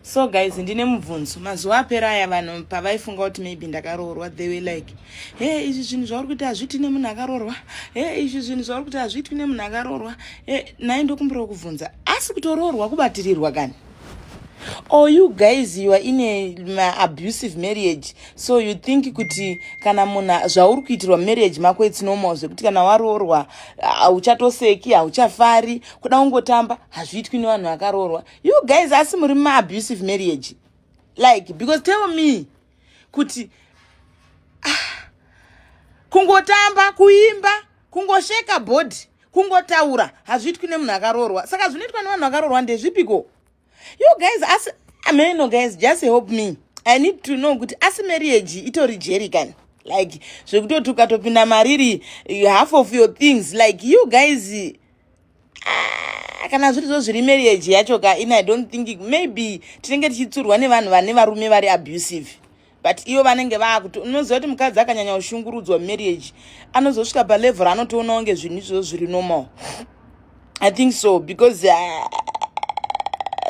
so guys ndine mubvunzo mazuva apera aya vanhu pavaifunga kuti maybe ndakaroorwa they were like he izvi zvinhu zvauri kuti hazviitwi nemunhu akaroorwa he izvi zvinhu zvauri kuti hazviitwi nemunhu akaroorwa e nai ndokumbirawo kubvunza asi kutoroorwa kubatirirwa kani or you guys you are in a maabusive marriage so you think kuti kana munhu zvauri kuitirwa marriage mako its normal zvekuti kana waroorwa hauchatoseki hauchafari kuda ungotamba hazviitwi nevanhu vakaroorwa you guys asi muri maabusive marriage like because tell me kuti ah, kungotamba kuimba kungosheka body kungotaura hazviitwi nemunhu akaroorwa saka zvinoitwa nevanhu vakaroorwa ndezvipiko you guys asi ameno guys just help me i need to know kuti asi marriage itori jeri kani like zvekutoti ukatopinda mariri half of your things like you guys Ah, kana zviri zvo zviri marriage yacho ka ini i don't think maybe tinenge tichitsurwa nevanhu vane varume vari abusive but ivo vanenge vaakuti unoziva kuti mukadzi akanyanya kushungurudzwa marriage anozosvika palevel raanotoona kunge zvinhu izvozvo zviri normal i think so because uh,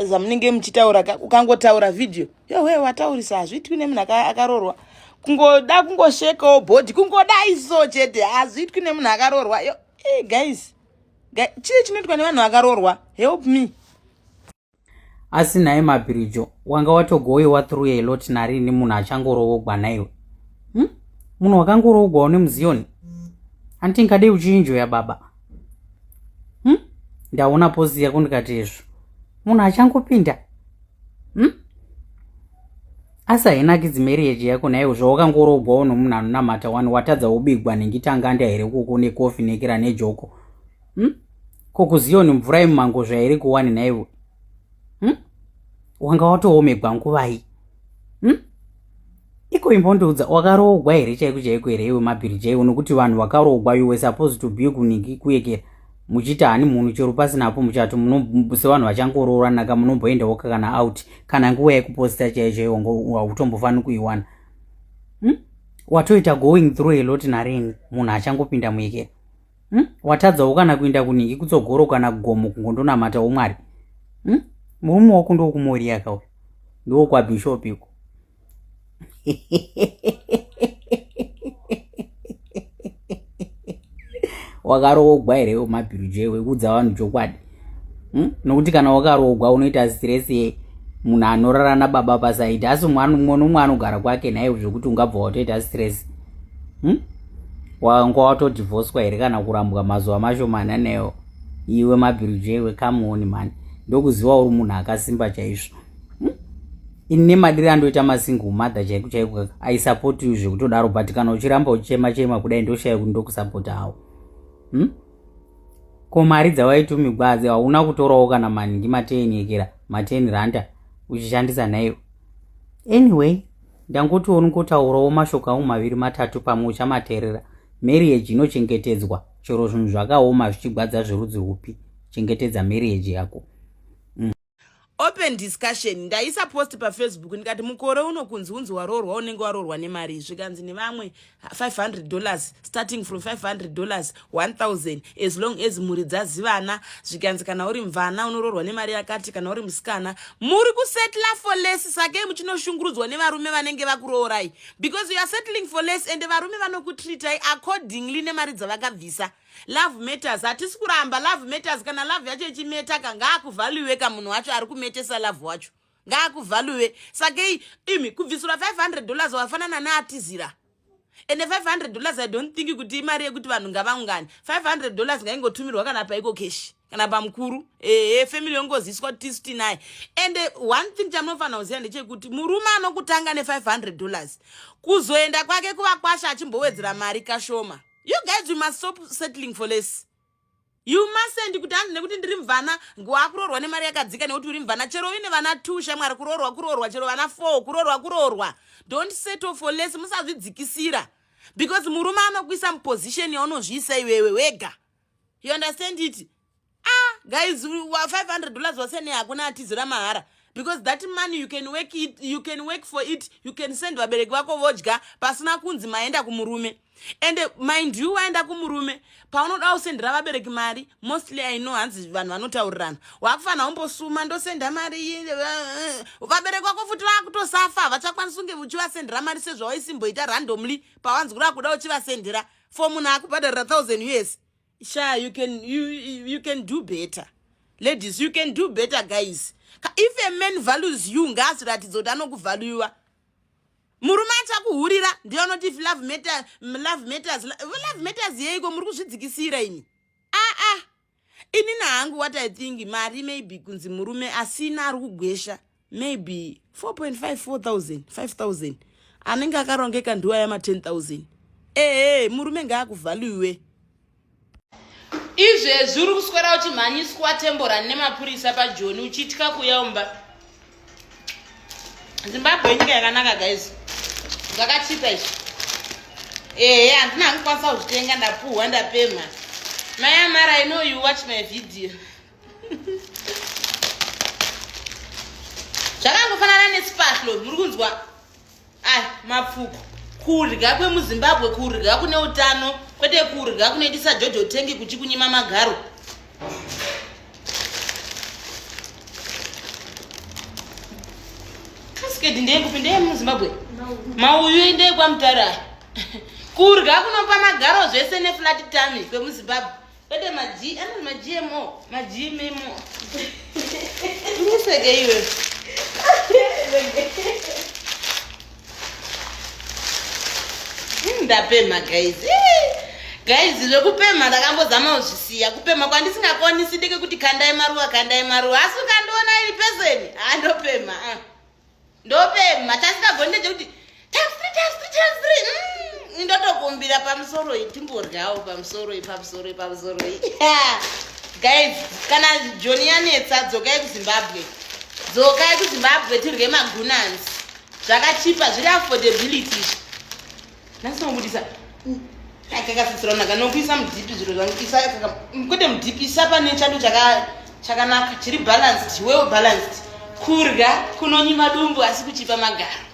zamunenge muchitaura ukangotaura video yowe wataurisa hazviitwi nemunhu akarorwa kungoda kungoshekawo body kungoda iso chete hazviitwi nemunhu akarorwa yo hey, eh, guys chii chinoitwa nevanhu vakaroorwa help me asi nhaye mabhirijo wanga watogowewa through a lot narini munhu achangoroogwa naiwe hmm? munhu wakangoroogwawo nemuziyoni hanti ndingadei uchiinjoya baba hmm? ndaona pozi yako ndikati izvo munhu achangopinda hmm? asi hainakidzi marriage yako naiwo zvawakangoroogwawo nomunhu anonamata wani watadza wobigwa nengitanganda here kuko nekofi nekira nejoko hm? ko kuziyoni mvura yemumango zvairi kuwani naiwo hm? wanga watoomegwa nguvai hm? iko imbondiudza wakaroogwa here chaiko chaiko here iwe mabhiri chaiwo nokuti vanhu vakaroogwa you were supposed to be kuniki kuyekera muchiti hani munhu chero pasina apo muchati sevanhu vachangorooranaka munomboendawoka kana out kana nguva yekuposita chaichaiwo hautombofaniri kuiwana hmm? watoita going through a lot narini munhu achangopinda muikera hmm? watadzawo kana kuinda kuningi kutsogoro kana gomo kungondonamata umwari hmm? murume wako ndokumoriyaka uyo ndokwabhishop iko wakaroogwa here iwe mabhiru je wekuudza vanhu chokwadi hmm? nokuti kana wakaroogwa unoita stress ye munhu anorara nababa pasaidi asi mwana umwe nomwe anogara kwake nhaivo zvekuti ungabva watoita stress hmm? wanga watodivhoswa here kana kurambwa mazuva mashomana newo iwe mabhiru je wekamuoni mani ndokuziva uri munhu akasimba chaizvo ini nemadiri andoita masingle mother chaiko chaiko i support you zvekutodaro but kana uchiramba uchichema chema kudai ndoshaya kuti ndokusapota hawo hmm? ko mari dzawaiti umigwazi hauna kutorawo kana maningi mateni yekera mateni ranta uchishandisa nhaiyo anyway ndangoti onikotaurawo mashoko angu maviri matatu pamwe uchamaterera marriage inochengetedzwa chero zvinhu zvakaoma zvichigwadza zverudzi rwupi chengetedza marriage yako open discussion ndaisa post pafacebook ndikati mukore uno kunzi unzi waroorwa unenge waroorwa nemari zvikanzi nevamwe 500 dollars starting from 500 dollars 1000 as long as mhuri dzazivana zvikanzi kana uri mvana unoroorwa nemari yakati kana uri musikana muri kusettla for less sakei muchinoshungurudzwa nevarume vanenge vakuroorai because youare settling for less ende varume vanokutreatai accordingly nemari dzavakabvisa love matters hatisi kuramba love matters kana love yacho ichimetaka ngaakuvhaluwe ka munhu wacho ari kumetesa love wacho ngaakuvhaluwe sakei imi kubvisura 500 dollars wafanana neatizira ende 500 dollars i don't think kuti imari yekuti vanhu ngavaungani 500 dollars ngaingotumirwa kana paiko keshi kana pamukuru ehe family yongoziswa tisu tinaye ende one thing chamunofanira kuziva ndechekuti murume anokutanga ne500 dollars kuzoenda kwake kuvakwasha achimbowedzera mari kashoma you guys you must stop settling for less you mustnd kuti hanzi nekuti ndiri mvana wakuroorwa nemari yakadzika nekuti uri mvana chero uine vana two shamwari kuroorwa kuroorwa chero vana four kuroorwa kuroorwa don't settle for less musazvidzikisira because murume anokuisa muposition yaunozviisa iwewe wega you understand it ah guys 500 dollars wasene hakuna atizira mahara because that money you can work it you can work for it you can send vabereki vako vodya pasina kunzi maenda kumurume and mind you waenda kumurume paunoda usendera vabereki mari mostly i know hanzi vanhu vanotaurirana wakufanira umbosuma ndosenda mari iyi eh, eh. vabereki vako futi vakutosafa havachakwanisi unge uchivasendera mari sezvawaisimboita randomly pawanzi kuda kuda uchivasendera for munhu akubhadharira thousand us sha you can, you, you can do better ladies you can do better guys if a man values you ngaazviratidza kuti anokuvaluiwa murume achakuhurira ndiye anoti if love matters love matters love matters yeiko muri kuzvidzikisira ini aa ah, ah. inini hangu what i think mari maybe kunzi murume asina ari kugwesha maybe 4.5 4000 5000 anenge akarongeka ndiwa yama 10000 ehe murume ngaakuvhaluiwe izvezvi uri kuswera uchimhanyiswa temborani nemapurisa pajoni uchitya kuya umba zimbabwe inyika yakanaka guys zvakachipa izvi ehe handina angikwanisa kuzvitenga ndapuhwa ndapemha mai amara inoyu watch my video zvakangofanana nesipahlo muri kunzwa ai mapfuko kurya kwemuzimbabwe kurya kune utano kwete kurya kunoitisa jojo tengi kuchikunyima magaro skedi ndeyekupi ndeye muzimbabwe mauyu endeye kwamutara kurya kunopa magaro zvese neflat tami kwemuzimbabwe Kwete ma G, ano ma GMO, ma GMO. Ndiseke iwe. Ndapema guys. Guys, zvekupema ndakambozama kuzvisiya. Kupema kwandisingakoni sindike kuti kandai maruwa, kandai maruwa. Asi ukandiona iri person, andopema. Ah. ndopemha tasingagoni ndeje kuti times three times three times three mm, ndotokumbira pamusoro iyi timboryawo pamusoro iyi pamusoro iyi pamusoro iyi guys kana joni yanetsa dzokai kuzimbabwe dzokai kuzimbabwe tirye magunans zvakachipa zviri affordability izvi nhasi mabudisa akakasitsiraunaka nokuisa mudipi zviro zvangu isa kwete mudipi isa pane chado chakanaka chiri balanced well balanced kurya kunonyima dumbu asi kuchipa magaro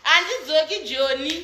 handidzoki joni